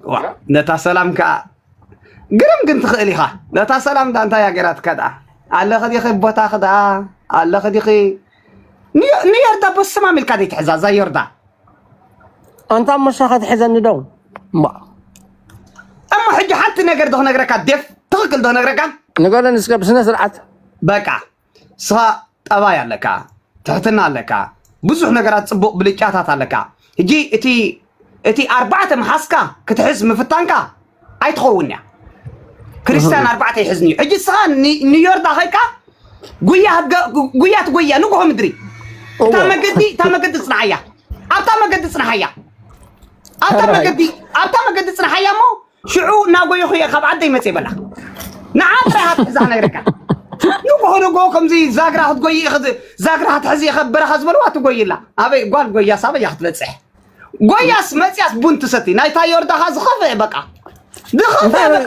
ዋ ነታ ሰላም ከዓ ግርም ግን ትኽእል ኢኻ ነታ ሰላም ዳ እንታይ እያ ገይራትካ ድኣ ኣለኺ ዲኺ ቦታኺ ድኣ ኣለኺ ዲኺ ንዮ- ንዮርዳ በስማም ኢልካ ዘይትሕዛ እዛ ዮርዳ ኣንታ መሻኻ ትሕዘኒ ዶ እሞ እሞ ሕጂ ሓንቲ ነገር ዶ ክነግረካ ዴፍ ትኽክል ዶ ክነግረካ ንገረኒ እስከ ብስነ ስርዓት በቃ ንስኻ ጠባይ ኣለካ፣ ትሕትና ኣለካ፣ ብዙሕ ነገራት ፅቡቕ ብልጫታት ኣለካ። ሕጂ እቲ እቲ ኣርባዕተ ምሓዝካ ክትሕዝ ምፍታንካ ኣይትኸውን እያ። ክርስቲያን ኣርባዕተ ይሕዝኒ እዩ። ሕጂ ንስኻ ኒ- ኒውዮርዳ ከይድካ ጉያ ህገ- ጉ- ጉያ ትጎያ ንጉሆ ምድሪ እታ እዎ። መገዲ እታ መገዲ ፅንሓያ ኣብታ መገዲ ፅንሓያ ኣብታ ሕራይ። መገዲ ኣብታ መገዲ ፅንሓያ እሞ ሽዑ እናጎየኹ እየ ካብ ዓደይ መፅየ በላ ንዓ ጥራይ ሃብ ሕዛ ነይረካ ንጉሆ ንጉሆ ከምዚ ዛግራ ክትጎይ ዛግራ ክትሕዚ እየ ከበረኻ ዝበልዋ ትጎይላ ኣበይ ጓል ጎያስ ኣበይ እያ ክትበፅሕ ጎያስ መፅያስ ቡን ትሰቲ ናይታ ዮርዳኻ ዝኸፍአ በቃ ዝኸፍአ በቃ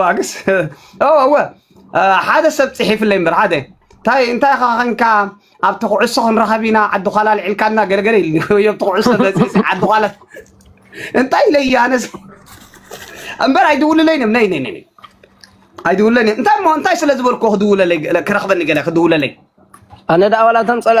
ዋግስ እወ ሓደ ሰብ ፅሒፍለይ እምበር ሓደ እንታይ እንታይ ኢኻ ኸንካ ኣብቲ ኩዕሶ ክንረኸብ ኢና ዓዲ ኳላ ልዕልካና ገለገለ ኢልኒ ወይ ኣብቲ ኩዕሶ መፅእሲ ዓዲ ኳላ እንታይ ኢለ እዩ ኣነስ እምበር ኣይድውልለይን እዮም ነይ ነይ ነይ ኣይድውልለይን እዮም እንታይ እሞ እንታይ ስለ ዝበልኩ ክድውለለይ ክረኽበኒ ገለ ክድውለለይ ኣነ ደኣ ዋላ እቶም ፀላ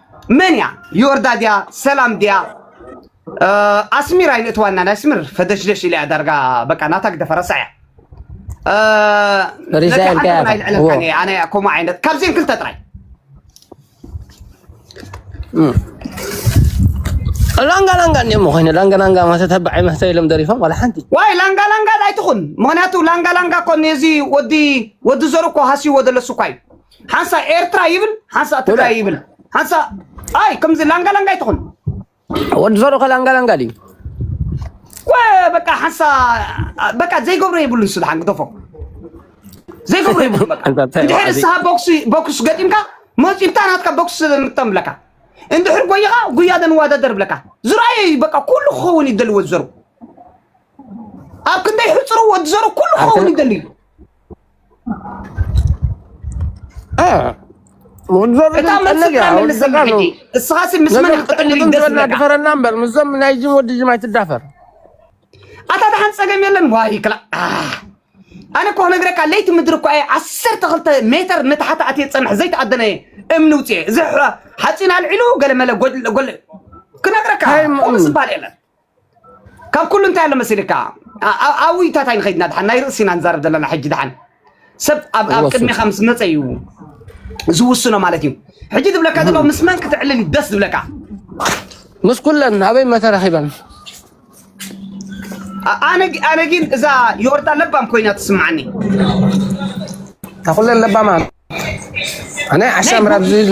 መን እያ ዮርዳ ድያ ሰላም ድያ ኣስሚር ኣይነእትዋና ናይ ኣስሚር ፈደሽደሽ ኢላ ዳርጋ በቃ ናታ ግደፈ ረሳ እያ ሪዛይል ከያ ኣነ ከምኡ ዓይነት ካብዚን ክልተ ጥራይ ላንጋ ላንጋ እንዲዮ መኮይነ ላንጋ ላንጋ ማለት ተባዓይ መህተ ኢሎም ደሪፎም ዋላ ሓንቲ ዋይ ላንጋ ላንጋ ኣይትኹን ምክንያቱ ላንጋ ላንጋ እኮ ነዚ ወዲ ወዲ ዘሩ እኮ ሃስይዎ ዘሎ እሱ እኳ እዩ ሓንሳ ኤርትራ ይብል ሓንሳ ትግራይ ይብል ሓንሳ ኣይ ከምዚ ላንጋ ላንጋ ይትኹን ወዲ ዞሮኸ ላንጋ ላንጋ ድዩ በቃ ሓንሳ በቃ ዘይገብሮ የብሉን ስልሓን ግደፎ ዘይገብሮ የብሉ ድሕሪ ንስኻ ቦክስ ገጢምካ መፂብታ ናትካ ቦክስ ምጠም ብለካ እንድሕር ጎይኻ ጉያ ደንዋዳደር ብለካ ዝረኣየ እዩ በቃ ኩሉ ክኸውን ይደልዎ ዝዘሩ ኣብ ክንደይ ሕፅሩ ወዲ ዘሩ ኩሉ ክኸውን ይደልዩ እታ መፅካ መልሰኒ ሕጂ እስኻሲ ምስ መን ክትቅልል ደስ ዝለካ ድፈረና እምበር ምስዞም ናይ ጅም ወዲ ጅም ኣይትዳፈር ኣታ ድሓን ፀገም የለን ዋይ ክላ ኣነ እኮ ነግረካ ለይቲ ምድሪ እኳ እየ ዓሰርተ ክልተ ሜተር ንታሕቲ ኣትየ ፀንሐ ዘይተኣደነ እየ እምኒ ውፅኤ እዚ ሓፂን ኣልዒሉ ገለመለ ጎል ክነግረካ ቁም ዝበሃል የለን ካብ ኩሉ እንታይ ኣሎ መሲልካ ኣብ ኣብ ውይይታት ኣይንኸይድና ድሓን ናይ ርእሲና ንዛረብ ዘለና ሕጂ ድሓን ሰብ ኣብ ኣብ ወሱ ቅድሜኻ ምስ መፀ እዩ ዝውስኖ ማለት እዩ ሕጂ ዝብለካ ዘሎ ምስ መን ክትዕልል እዩ ደስ ዝብለካ ምስ ኩለን ኣበይ መተረኺበን ኣ- ኣነ ግ- ኣነ ግን እዛ ዮርዳ ለባም ኮይና ትስምዓኒ ካብ ኩለን ለባማ ናይ ናይ ዓሻ ምራብ ጉ- ዝሉ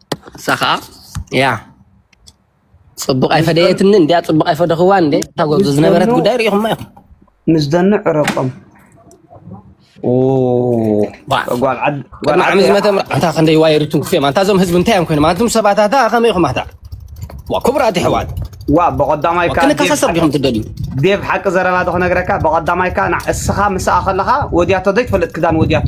እሳ ከዓ ያ ፅቡቅ ኣይፈደየትኒ እንዲያ ፅቡቅ ኣይፈደኽዋ እንዴ ታጎብዞ ዝነበረት ጉዳይ ርኢኹማ ኢኹም ምስ ደኑ ዕረቆም ጓልዓሚ ዝመተ ምርዓታ ክንደይ ዋየሪቱን ክፍዮም ኣንታ እዞም ህዝቢ እንታይ እዮም ኮይኖም ኣንቱም ሰባታታ ከመይ ኢኹም ኣታ ክቡራት ይሕዋት ዋእ ብቐዳማይ እካ ዴቭ ክንከሳሰር ሓቂ ዲኹም ትደልዩ ዴቭ ሓቂ ዘረባ ዶ ክነግረካ ብቐዳማይ እካ ንዓ እስኻ ምስኣ ከለኻ ወድያቶ ዘይትፈልጥ ክዳን ወድያቶ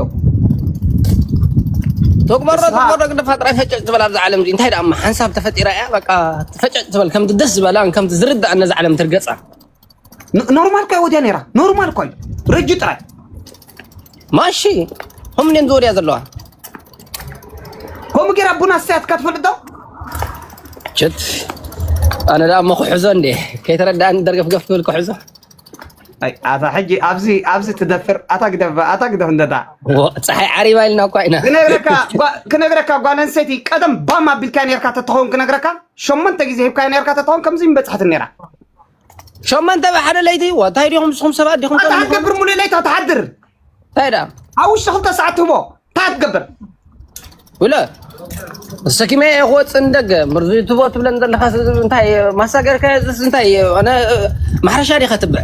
ትግበሮ እስኻ ትግበሮ ግድፋ ጥራይ ፈጨጭ ዝበል ኣብዛ ዓለም እዚ እንታይ ደኣ እማ ሓንሳብ ተፈጢራ እያ በቃ ፈጨጭ ዝበል ከምቲ ደስ ዝበላን ከምቲ ዝርድኣን ነዛ ዓለም ትርገጻ ኖርማል እኳ ወዲያ ነይራ ኖርማል እኳ እዩ ረጁ ጥራይ ማሺ ከም እኔን ዝወዲያ ዘለዋ ከምኡ ጌራ ቡና ሰያትካ ትፈልጥ ዶ ችት ኣነ ደኣ እሞ ክሕዞ እንዴ ከይተረዳእኒ ደርገፍገፍ ክብል ክሕዞ ኣይ ኣታ ሕጂ ኣብዚ ኣብዚ ትደፍር ኣታ ግደፍ ኣታ ግደፍ እንደዳ ፀሓይ ዓሪባ ኢልና እኳ ኢና ክነግረካ ክነግረካ ጓል ኣንስተይቲ ቀደም ባም ኣቢልካ ነርካ ተትኸውን ክነግረካ ሸሞንተ ግዜ ሂብካ ነርካ ተትኸውን ከምዚ ምበፅሐት ነራ ሸመንተ ብሓደ ለይቲ እንታይ ዲኹም ንስኹም ሰባት ዲኹም እንታይ ትገብር ሙሉእ ለይቲ ትሓድር እንታይ ደኣ ኣብ ውሽጢ ክልተ ሰዓት ትህቦ እንታይ ትገብር ውለ ሰኪመ እየ ክወፅእ ንደገ ምርዚ ትቦ ትብለን ዘለካ እንታይ ማሳገርካ እንታይ ማሕረሻ ዲኻ ትብዕ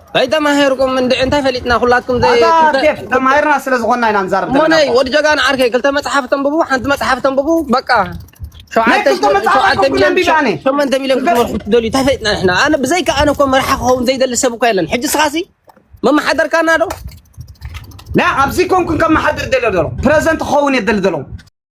ከይተማሄርኩም እንድዒ እንታይ ፈሊጥና ኩላትኩም ዘይ ኣታ ክልተ ኬፍ ክልተ ተማሂርና ስለ ዝኾንና ኢና ንዛረብ ዘለና ሞነይ እኮ ወዲ ጀጋኑ ዓርከይ ክልተ መጽሓፍ ተንብቡ ሓንቲ መጽሓፍ ተንብቡ በቃ ናይ ሸውዓተ ክልተ መጽሓፍ ሸውዓተ ኣይኮንኩን ሚልዮን ኣንቢበ ኣነ ሸሞንተ ሚልዮን ንገር ክትመርሑ ትደልዩ እንታይ ፈሊጥና ንሕና ኣነ ብዘይካ ኣነ እኮ መራሒ ክኸውን ዘይደሊ ሰብ እኮ የለን ሕጂ እስኻሲ መመሓደርካና ዶ ና ኣብዚ ኮንኩን ከመሓድር ደልዮ ደሎ ፕረዘንት ክኸውን እየ ደሊ ደሎ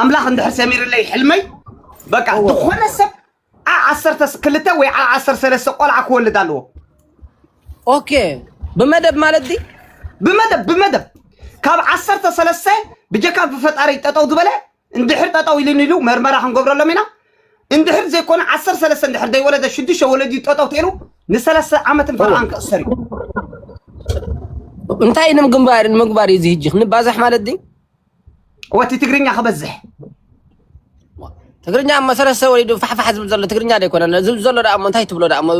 ኣምላኽ እንድሕር ሰሚርለይ ሕልመይ በቃ ዝኾነ ሰብ ዓ ዓሰርተ ክልተ ወይ ዓ ዓሰርተ ሰለስተ ቆልዓ ክወልድ ኣለዎ ኦኬ ብመደብ ማለት ዲ ብመደብ ብመደብ ካብ ዓሰርተ ሰለስተ ብጀካ ብፈጣሪ ጠጠው ዝበለ እንድሕር ጠጠው ኢሉን ኢሉ መርመራ ክንገብረሎም ኢና እንድሕር ዘይኮነ ዓሰርተ ሰለስተ እንድሕር ዘይወለደ ሽዱሽተ ወለዲ ጠጠው ተይሉ ንሰለስተ ዓመትን ፈርዓን ክእሰር እዩ እንታይ ንምግባር ንምግባር እዩ እዚ ህጂ ክንባዛሕ ማለት ዲ ወቲ ትግርኛ ክበዝሕ ትግርኛ እሞ ሰለስተ ወሊዱ ፋሕፋሕ ዝብል ዘሎ ትግርኛ ዶ ኣይኮነን ዝብል ዘሎ ደኣ እሞ እንታይ ትብሎ ደኣ እሞ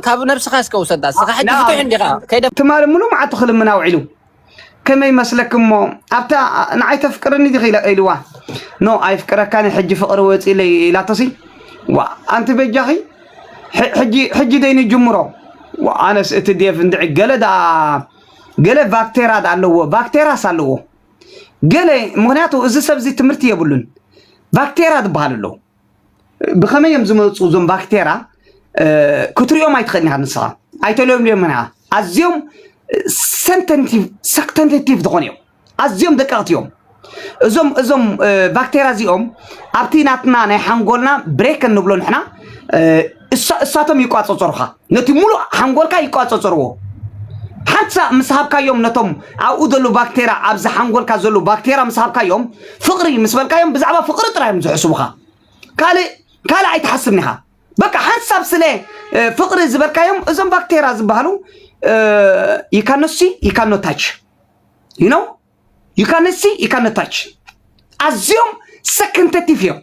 ካብ ነብስኻ እስከ ውሰዳ እስኻ ሕጂ ፍትሕ እንዲኻ ከይደ ትማሊ ሙሉ መዓቱ ክልምና ውዒሉ ከመይ መስለክ እሞ ኣብታ ንዓይ ተፍቅርኒ ዲኺ ኢልዋ ኖ ኣይፍቅረካን ሕጂ ፍቕሪ ወፂለይ ኢላቶሲ ዋ ኣንቲ በጃኺ ሕጂ ደይ ንጅምሮ ኣነስ እቲ ዴቭ እንድዒ ገለ ደኣ ገለ ቫክቴራ ኣለዎ ቫክቴራስ ኣለዎ ገለ ምክንያቱ እዚ ሰብ እዚ ትምህርቲ የብሉን ቫክቴራ ዝበሃል ኣለዉ ብከመይ እዮም ዝመፁ እዞም ቫክቴራ ክትሪኦም ኣይትኽእልን ኢኻ ንስኻ ኣይተለምልዮምን ኢኻ ኣዝዮም ሰክተንቲቭ ዝኾኑ እዮም ኣዝዮም ደቀቕቲ እዮም። እዞም እዞም ባክቴርያ እዚኦም ኣብቲ ናትና ናይ ሓንጎልና ብሬክ እንብሎ ንሕና እሳቶም ይቋፀፀሩኻ ነቲ ሙሉእ ሓንጎልካ ይቋፀፀርዎ ሓንሳ ምስ ሃብካዮም ነቶም ኣብኡ ዘለዉ ባክቴርያ ኣብዚ ሓንጎልካ ዘለዉ ባክቴርያ ምስ ሃብካዮም ፍቕሪ ምስ በልካዮም ብዛዕባ ፍቕሪ ጥራይ እዮም ዝሕስቡኻ ካልእ ካልእ ኣይትሓስብን ኢኻ በቃ ሓንሳብ ስለ ፍቕሪ ዝበልካዮም እዞም ባክቴርያ ዝበሃሉ ይካኖሲ ይካኖታች ዩ ነው ዩካነሲ ዩካነታች ኣዝዮም ሰክንተቲፍ እዮም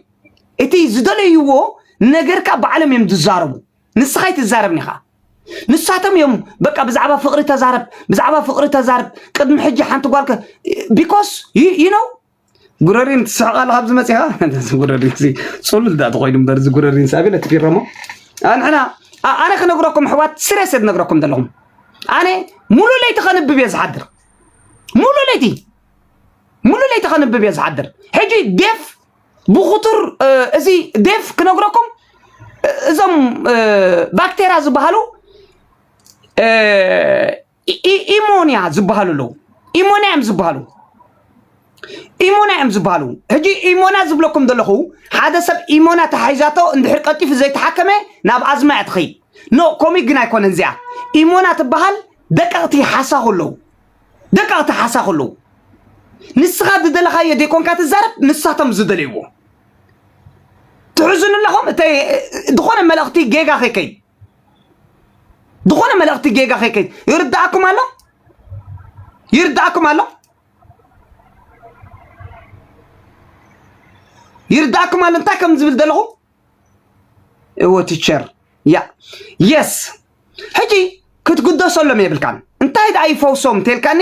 እቲ ዝደለይዎ ነገር ከዓ ባዕሎም እዮም ዝዛረቡ ንስኻ ይትዛረብኒ ኻ ንሳቶም እዮም በቃ ብዛዕባ ፍቅሪ ተዛረብ ብዛዕባ ፍቅሪ ተዛረብ ቅድሚ ሕጂ ሓንቲ ጓልከ ቢኮስ ዩ ነው ጉረሪን ትስሕቕ ኣለኻ ኣብዚ መፂኻ ጉረሪን ፅሉል ዳኣ ተኾይኑ እምበር እዚ ጉረሪን ሳቢ ነቲ ፊረሞ ኣንሕና ኣነ ክነግረኩም ኣሕዋት ስሬሰ ዝነግረኩም ዘለኹም ኣነ ሙሉ ለይቲ ከንብብ እየ ዝሓድር ሙሉ ለይቲ ሙሉ ለይቲ ከንብብ እየ ዝሓድር ሕጂ ዴፍ ብኩቱር እዚ ዴፍ ክነግረኩም እዞም ባክቴራ ዝበሃሉ ኢሞንያ ዝበሃሉ ኣለዉ ኢሞንያ እዮም ዝበሃሉ ኢሞና እዮም ዝበሃሉ ሕጂ ኢሞና ዝብለኩም ዘለኹ ሓደ ሰብ ኢሞና ተሓሒዛቶ እንድሕር ቀልጢፉ ዘይተሓከመ ናብ ኣዝማ እያ ትኸይድ ኖ ኮሚክ ግን ኣይኮነን እዚኣ ኢሞና ትበሃል ደቀቕቲ ሓሳኹ ኣለዉ ደቀቕቲ ሓሳኹ ኣለዉ ንስኻ ዝደለኻዮ ዘይኮንካ ትዛረብ ንሳቶም ዝደለይዎ ትሕዝኑ ኣለኹም ዝኾነ መልእኽቲ ጌጋ ከይከይድ ዝኾነ መልእኽቲ ጌጋ ከይከ ይርዳእኩም ኣሎ ይርዳእኩም ኣሎ ይርዳእኩም ኣሎ እንታይ ከም ዝብል ዘለኹ እወ ቲቸር ያ የስ ሕጂ ክትግደሰሎም የብልካን እንታይ ደኣ ይፈውሶም እንተልካኒ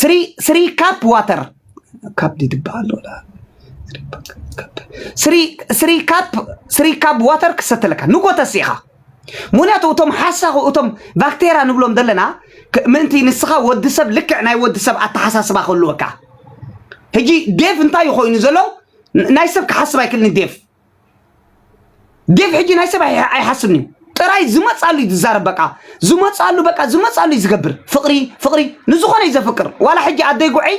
ስሪ ስሪ ካፕ ዋተር ካፕ ድድበሃል ኣሎ ላ- ስሪ ስሪ ካፕ ስሪ ካፕ ዋተር ክሰተ ኣለካ ንጎተሲ ኢኻ ምክንያቱ እቶም ሓሳኹ እቶም ባክቴራ ንብሎም ዘለና ክ- ምእንቲ ንስኻ ወዲ ሰብ ልክዕ ናይ ወዲ ሰብ ኣተሓሳስባ ክህልወካ ሕጂ ዴቭ እንታይ እዩ ኮይኑ ዘሎ ን- ናይ ሰብ ክሓስብ ኣይክእልን ዴቭ ዴቭ ሕጂ ናይ ሰብ ኣይ- ኣይሓስብን እዩ ጥራይ ዝመፃሉ እዩ ዝዛረብ በቃ ዝመፃሉ በቃ ዝመፃሉ እዩ ዝገብር ፍቅሪ ፍቅሪ ንዝኾነ እዩ ዘፍቅር ዋላ ሕጂ ኣደይ ጉዐይ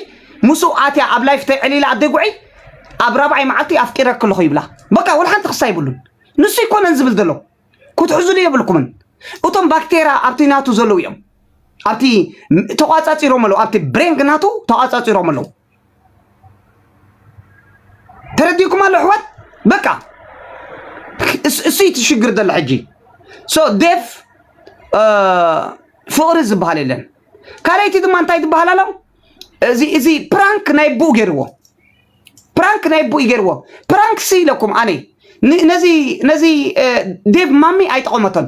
ምስኡ ኣትያ ኣብ ላይፍ ተይዕሊላ ኣደይ ጉዐይ ኣብ ራብዓይ መዓልቲ ኣፍቂረኪ ኣለኹ ይብላ በቃ ወላ ሓንቲ ክሳ ይብሉን ንሱ ይኮነን ዝብል ዘሎ ክትሕዝሉ የብልኩምን እቶም ባክቴራ ኣብቲ ናቱ ዘለዉ እዮም ኣብቲ ተቋፃፂሮም ኣለዉ ኣብቲ ብሬንግ ናቱ ተቋፃፂሮም ኣለዉ ተረዲኩም ኣሎ ኣሕዋት በቃ እሱይ እቲ ሽግር ዘሎ ሕጂ ሶ ዴፍ ፍቕሪ ዝበሃል የለን ካልኣይቲ ድማ እንታይ ትበሃል ኣሎ እዚ እዚ ፕራንክ ናይ ብኡ ገይርዎ ፕራንክ ናይ ብኡ ገይርዎ ፕራንክ ሲ ኢለኩም ኣነ ን- ነዚ ነዚ እ፣ ዴቭ ማሚ ኣይጠቐመቶን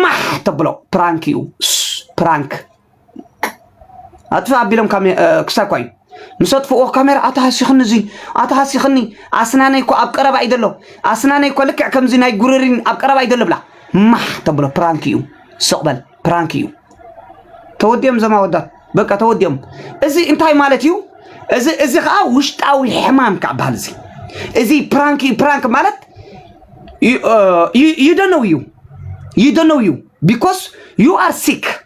ማሕ ተብሎ ፕራንክ እዩ ስ፣ ፕራንክ ኣጥፍእ ኣቢሎም ክሳኳ እዩ ምስ ኣጥፍእዎ ካሜራ ኣታ ሃሲኽኒ እዙይ ኣታ ሃሲኽኒ ኣስናነይ እኮ ኣብ ቀረባ እዩ ዘሎ ኣስናነይ እኮ ልክዕ ከምዚ ናይ ጉርሪን ኣብ ቀረባ እዩ ዘሎ ብላ ማሕ ተብሎ ፕራንክ እዩ ስቕ በል ፕራንክ እዩ ተወዲኦም ዘማ ወዳት በቃ ተወዲኦም እዚ እንታይ ማለት እዩ እዚ እዚ ከዓ ውሽጣዊ ሕማም ካብ በሃል እዚ እዚ ፕራንክ እዩ ፕራንክ ማለት ይደነው እዩ ይደነው እዩ ቢኮስ ዩ ኣር ሲክ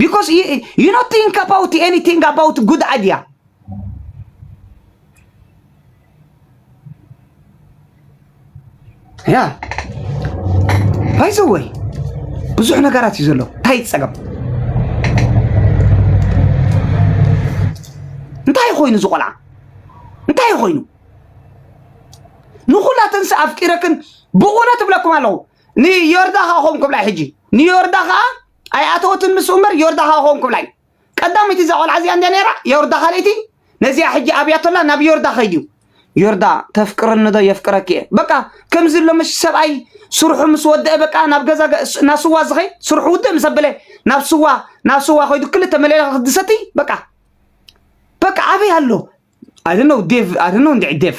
ቢኮዝ ዩ ኖት ቲንክ ኣባውት ኤኒቲንግ ኣባውት ጉድ ኣድያ ያ ባይዘወይ ብዙሕ ነገራት እዩ ዘሎ እንታይ ፀገም እንታይ ኮይኑ እዚ ቆልዓ እንታይ ኮይኑ ንኹላተንስ ኣፍቂረክን ብእውነት እብለኩም ኣለኹ ንዮርዳ ከኣ ከምኡ ክብላ ሕጂ ንዮርዳ ከኣ ኣይኣተወትን ንሱ እምበር ዮርዳ ከኣ ከምኡ ክብላ እዩ ቀዳመይቲ እዛ ቆልዓ እዚኣ እንድያ ነይራ ዮርዳ ካልኣይቲ ነዚኣ ሕጂ ኣብያቶላ ናብ ዮርዳ ከይድ እዩ ዮርዳ ተፍቅርኒ ዶ የፍቅረኪ እየ በቃ ከምዚ ኣሎ መሽ ሰብኣይ ስርሑ ምስ ወደአ በቃ ናብ ገዛ ናብ ስዋ ዝኸይድ ስርሑ ውድእ ምስ ኣበለ ናብ ስዋ ናብ ስዋ ከይዱ ክልተ መለለ ክድሰቲ በቃ በቃ ኣበይ ኣሎ ኣይ ዶንት ኖው ዴቭ ኣይ ዶንት ኖው እንድዒ ዴቭ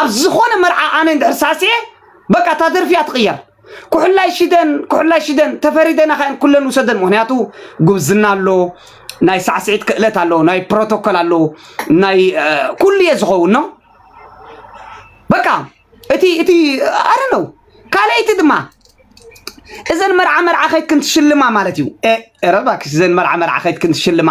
ኣብ ዝኾነ መርዓ ኣነ እንድሕር ሳሲየ በቃ እታ ደርፊ እያ ትቕየር ኩሕላይ ሽደን ኩሕላይ ሽደን ተፈሪደናኻ እየን ኩለን ውሰደን ምክንያቱ ጉብዝና ኣሎ ናይ ሳዕስዒት ክእለት ኣሎ ናይ ፕሮቶኮል ኣሎ ናይ እ፣ ኩሉ እየ ዝኸውን ነው በቃ እቲ እቲ ኣረ ነው ካልኣይቲ ድማ እዘን መርዓ መርዓ ከይትክን ትሽልማ ማለት እዩ ኧረ እባክሽ እዘን መርዓ መርዓ ከይትክን ትሽልማ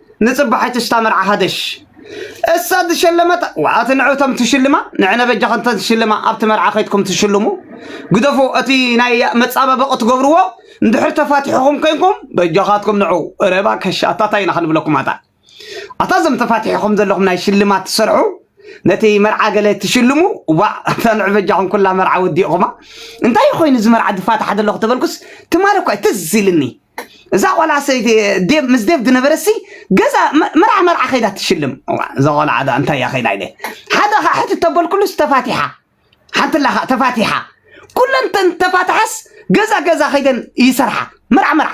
ንጽባሒቱ ሽታ መርዓ ሃደሽ እሳ ዝሸለመት ዋኣቲ ንዕቶም ትሽልማ ንዕነ በጃ ከንተ ትሽልማ ኣብቲ መርዓ ከይትኩም ትሽልሙ ግደፉ እቲ ናይ መጻበበቂ ትገብርዎ እንድሕር ተፋቲሕኹም ኮይንኩም በጃኻትኩም ንዑ ረባ ከሻ ኣታታይ ኢና ክንብለኩም ኣታ ኣታ ዘም ተፋቲሕኹም ዘለኹም ናይ ሽልማት ትሰርሑ ነቲ መርዓ ገለ ትሽልሙ ዋዕ ተንዕ በጃኹም ኩላ መርዓ ወዲእኹማ እንታይ ኮይኑ እዚ መርዓ ድፋታሕ ዘለኹ ተበልኩስ ትማሊ እኳ ትዝ ኢልኒ እዛ ቆልዓ ሰይቲ ዴቭ ምስ ዴቭ ዝነበረሲ ገዛ መ- መርዓ መርዓ ከይዳ ትሽልም እዋ፣ እዛ ቆልዓ ድኣ እንታይ እያ ከይዳ ኢለ ሓደ ከዓ ሕቲ ተበልኩሉስ ተፋቲሓ ሓንቲ ኣላ ከዓ ተፋቲሓ ኩለን ተን ተፋትሓስ ገዛ ገዛ ከይደን ይሰርሓ መርዓ መርዓ